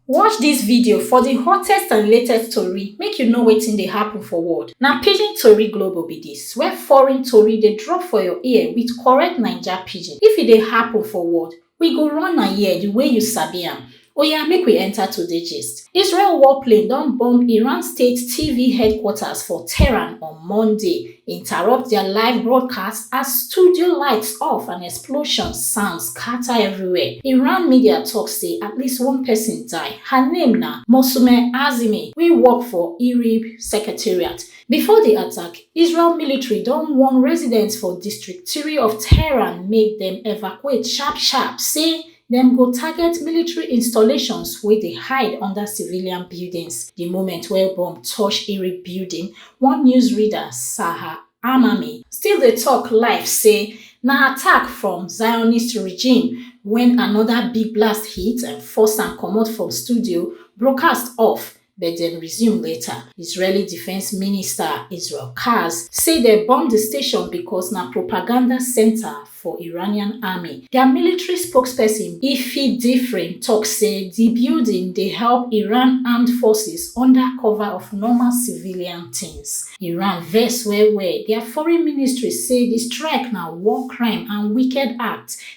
Watch dis video for di hottest and latest tori make you know wetin dey happen for world. Na Pidgin Tori Global be dis, where foreign tori dey drop for your ear with correct Naija Pidgin. If e dey happen for world, we go run am here di way you sabi am. Oya make we enter today gist. Israel warplane don bomb Iran state TV headquarters for Tehran on Monday. interrupt dia live broadcast as studio lights off and explosion sound scatter everywhere. Iran media tok say at least one person die. Her name na Mousoumeh Azimi wey work for IRIB secretariat. Before di attack, Israel military don warn residents for District three of Tehran make dem evacuate sharp sharp, say Dem go target military installations wey dey hide under civilian buildings di moment wey bomb touch Iri building, one news reader, Saha Amami, still dey tok live say na attack from Zionist regime wen anoda big blast hit and force am comot from studio, broadcast off, but dem resume later israeli defence minister israel katz say dem bomb di station becos na propaganda centre for iranian army dia military spokesperson ifi differin tok say di building dey help iran armed forces under cover of normal civilian tins iran vex well well dia foreign ministry say di strike na war crime and wicked act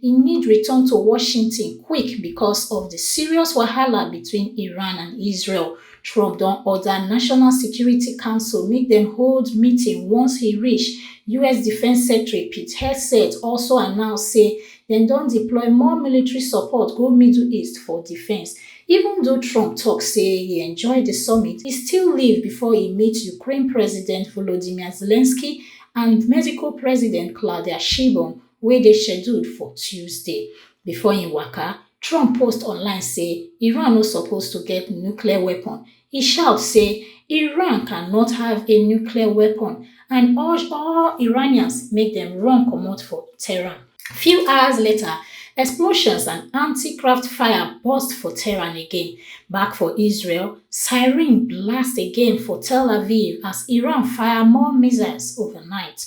e need return to Washington quick because of di serious wahala between Iran and Israel. Trump don order National Security Council make dem hold meeting once he reach. US Defence Secretary Pete Hegseth also announce say dem don deploy more military support go Middle East for defence. Even though Trump tok say e enjoy di summit, e still leave before e meet Ukraine President Volodymyr Zelensky and Mexico President Claudia Sheinbaum wey dey scheduled for tuesday before im waka trump post online say iran no suppose to get nuclear weapon e shout say iran cannot have a nuclear weapon and urge all iranians make dem run comot for tehran few hours later explosions and antiaircraft fire burst for tehran again back for israel siren blast again for tel aviv as iran fire more missiles overnight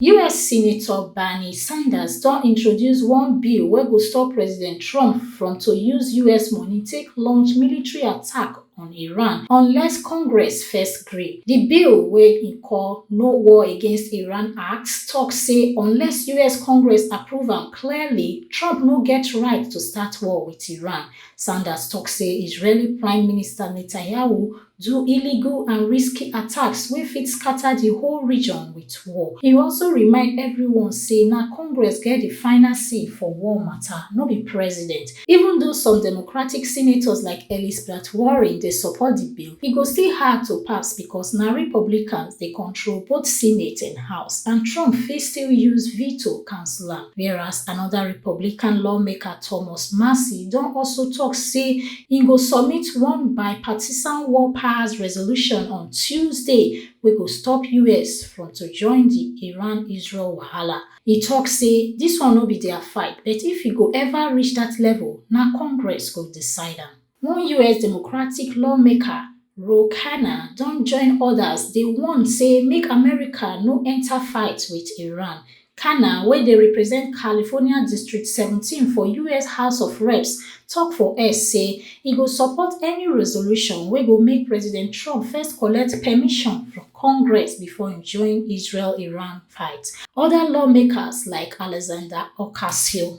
us senator bernie sanders don introduce one bill wey go stop president trump from to use us money take launch military attack on iran unless congress first gree di bill wey e call no war against iran act tok say unless us congress approve am clearly trump no get right to start war wit iran sanders tok say israeli prime minister netanyahu do illegal and risky attacks wey fit scata di whole region wit war. E also remind evrione say na Congress get di final say for war mata, no be president. Even though some Democratic senators like Elisbeth Warren dey support di bill, e go still hard to pass becos na Republicans dey control both Senate and House, and Trump fit still use veto cancel am. Whereas anoda Republican lawmaker Thomas Massie don also tok say Im go submit one bipartisan war powers resolution on Tuesday wey go stop us from to join di Iran-Israel wahala. E tok say dis one no be dia fight but if e go ever reach dat level, na Congress go decide am. One us Democratic lawmaker, Ro Khanna, don join odas dey warn say make America no enta fight wit Iran, Cana, wey dey represent California District seventeen for us House of Reps, tok for X say e go support any resolution wey go make President Trump first collect permission from Congress before im join Israel-Iran fight oda lawmakers like Alexander Ocasio.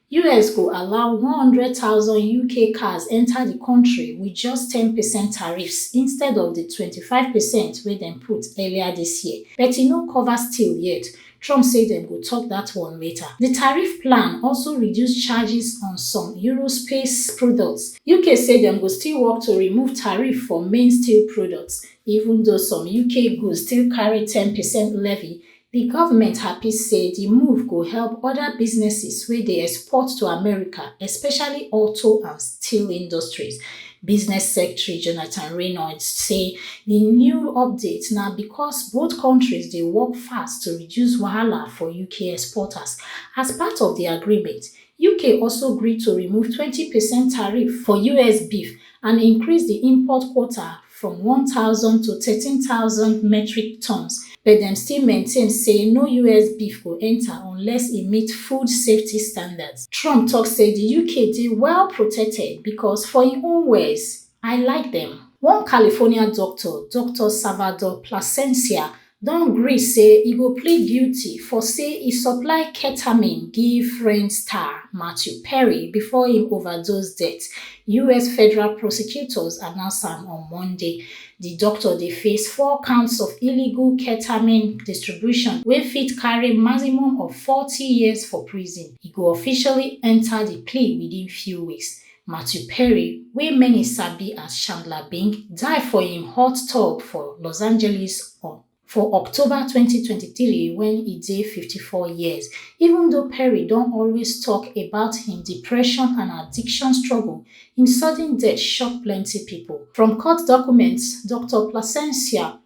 us go allow one hundred thousand uk cars enta di kontri wit just ten percent tariffs instead of di twenty-five percent wey dem put earlier dis year but e no cover steel yet trump say dem go tok dat one later di tariff plan also reduce charges on some eurospace products uk say dem go still work to remove tariff for main steel products even though some uk goods still carry ten percent levy Di govment happy say di move go help oda businesses wey dey export to America, especially auto and steel industries. Business Secretary Jonathan Reynolds say di new update na becos both kontris dey work fast to reduce wahala for UK exporters. As part of di agreement, UK also gree to remove twenty percent tariff for US beef and increase di import quota from 1000 to 13000 metric tons but dem still maintain say no us beef go enta unless e meet food safety standards trump tok say di uk dey well protected becos for im own words i like dem one california doctor doctor salvador plasencia don gree say e go plead guilty for say e supply ketamine give friend star matthew perry before im overdose death us federal prosecutors announce am on monday di doctor dey face four counts of illegal ketamine distribution wey fit carry maximum of forty years for prison e go officially enta di plea within few weeks Matthew Perry, wey many sabi as Chandler Bing, die for im hot tub for Los Angeles on for October twenty twenty three wen e dey fifty four years. Even though Perry don always tok about im depression and addiction struggle, im sudden death shock plenty pipo. From court documents, Doctor Plascencia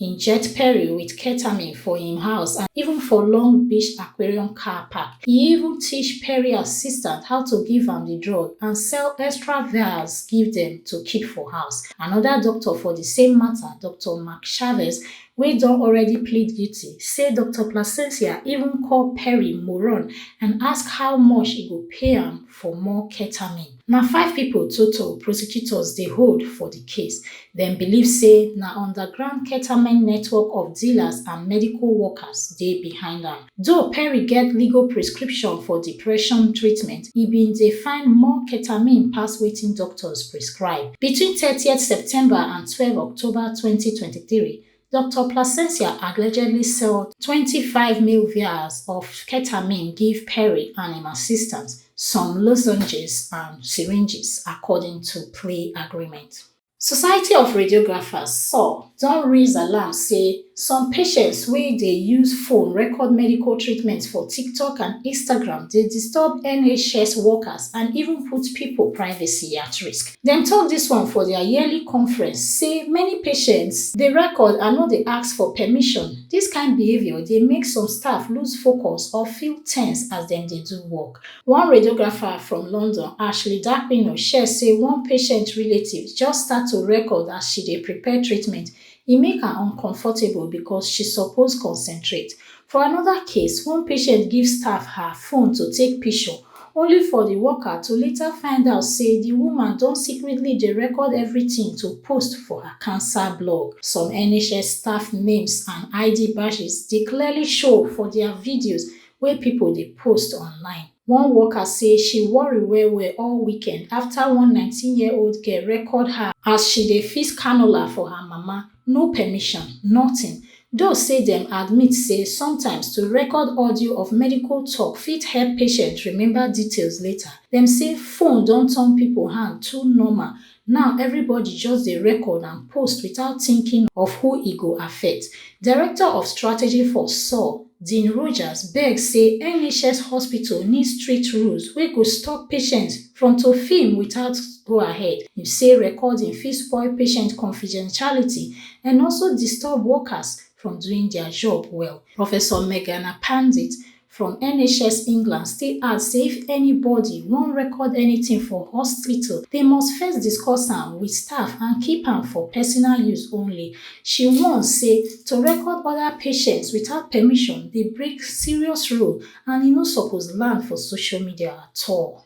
inject Perry with ketamine for im house and even for Long Beach Aquarium car park. He even teach Perry assistant how to give am the drug and sell extra vials give them to keep for house. Another doctor for the same matter, Doctor Mark Chavez, wey don already plead guilty, say Doctor Placencia even call Perry moron and ask how much e go pay am for more ketamine. Na five pipo total prosecutors dey hold for di case. Dem believe say na underground ketamine network of dealers and medical workers dey behind am. Though Perry get legal prescription for depression treatment, e bin dey find more ketamine pass wetin doctors prescribe. Between thirtieth September and twelve October twenty twenty three, Doctor Plasencia allegedly sell twenty five mil vials of ketamine give Perry and im assistant, some lozenges and syringes, according to plea agreement. Society of Radiographers, SOR, don raise alarm say some patients wey dey use phone record medical treatment for TikTok and Instagram dey disturb NHS workers and even put pipo privacy at risk. Dem tok dis one for dia yearly conference say many patients dey record and no dey ask for permission. Dis kain behaviour dey make some staff lose focus or feel tense as dem dey do work. One radiographer from London, Ashley D'Aquino, share say one patient relative just start to record as she dey prepare treatment, e make her uncomfortable becos she suppose concentrate. For anoda case, one patient give staff her phone to take pishure, only for di worker to later find out say di woman don secretly dey record everytin to post for her cancer blog. Some NHS staff names and ID badges dey clearly show for dia videos wey pipo dey post online. One worker say she worry well-well all weekend after one nineteen year old girl record her as she dey fix cannula for her mama, no permission, nothing, though say dem admit say sometimes to record audio of medical talk fit help patient remember details later. Dem say phone don turn people hand too normal Now everybody just dey record and post without thinking of who e go affect. Director of Strategy for saw, Dean Rogers beg say NHS hospital need strict rules wey go stop patients from to film without go ahead. Im say recording fit spoil patient confidentiality and also disturb workers from doing dia job well. Professor Meghana Pandit, from NHS England still add say if anybody wan record anything for hospital, they must first discuss am with staff and keep am for personal use only. She warn say to record other patients without permission dey break serious rule and e no suppose land for social media at all.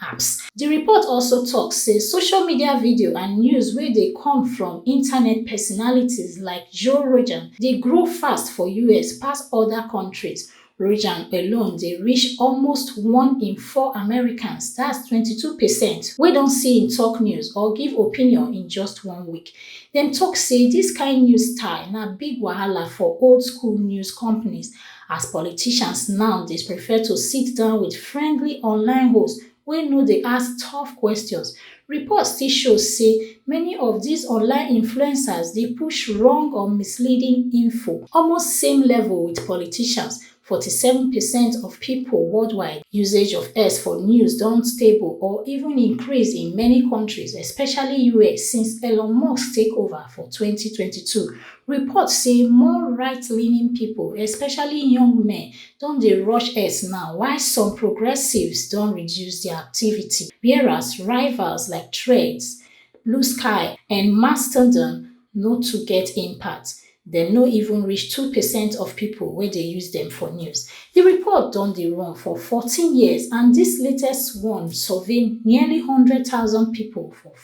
apps. Di report also tok say social media video and news wey dey come from internet personalities like Joe Rogan dey grow fast for us pass oda kontris. Rogan alone dey reach almost one in four Americans, that's twenty two percent, wey don see im tok news or give opinion in just one week. Dem tok say dis kain news style na big wahala for old-school news companies As politicians now dey prefer to sit down with friendly online hosts wey no dey ask tough questions, reports still show say many of these online influencers dey push wrong or misleading info. Almost same level with politicians, forty seven percent of people worldwide usage of X for news don stable or even increase in many countries, especially US, since Elon Musk take over for twenty twenty two Report say more right-leaning pipo, especially young men, don dey rush ex now, while some progressives don reduce dia activity, whereas rivals like Threads, Bluesky and Mastodon no too get impact, dem no even reach two percent of pipo wey dey use dem for news. Di report don dey run for fourteen years and dis latest one survey nearly hundred thousand pipo for.